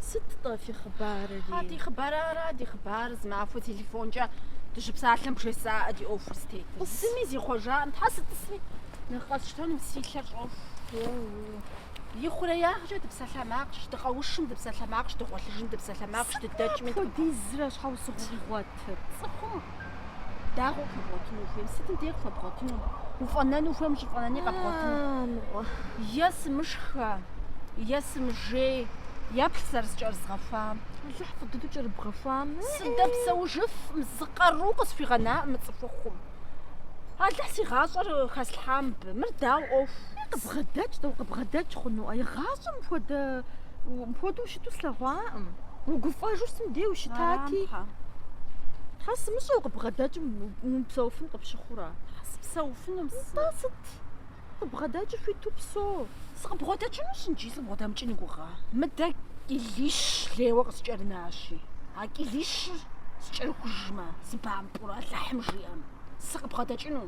Сыт-тӏэ фи хъыбарэри? А ди хъыбар ара, ди хъыбар зы махуэ телефонкӏэ дыщыпсалъэм бжесӏаӏэ ди ӏуэхур зытетыр. Зыми зихъуэжакъым, тхьэ сытӏысми нэхъ къэсщтэнум, си лъэр щӏоху. Ихъуреягъкӏэ ди псалъэмакъщ, дыкъэушым ди псалъэмакъщ, дыгъуэлъыжым ди псалъэмакъщ, дыдэкӏми. Апхуэдизрэ щхьэусыгъуэ къигъуэтыр цӏыхум. Дагъуэ къэбгъуэтыну хуейм, сытым дей къыхуэбгъуэтыну? Уфӏэнэну хуейм ущӏыфӏэнэни къэбгъуэтыну. Е сымышхэ, е сымыжей, еплъ зэрызкӏэрызгъэхуам. Алыхь фӏы дыдэу кӏэрыбгъэхуам. Сыдэпсэужыфӏым, зы къару къысхуигъэнаӏым мы цӏыхухъум. Алыхь си гъащӏэр хэслъхьам абы, мыр дауэ ӏуэху. Къыбгъэдэкӏ тӏэ, укъыбгъэдэкӏ хъунуӏэ, игъащӏэм хуэдэ Мыпхуэдэу ущыту услъэгъуакъым. Угуфӏэжу сытым дей ущытати. Тхьэ сымыщӏэ укъыбгъэдэкӏым умыпсэуфын къыпщыхъурэ? Тхьэ сыпсэуфынум сэ. Тӏэ сыт? Къыбгъэдэкӏи хуиту псэу. Сыкъыбгъэдэкӏынущ иджы, сыкъыбгъэдэмыкӏын уи гугъэ. Мыдэ кӏилищ лейуэ къыскӏэрынащи, а кӏилищыр скӏэрыхужмэ, сыбампӏэурэ Алыхьым жиӏэм, сыкъыбгъэдэкӏыну.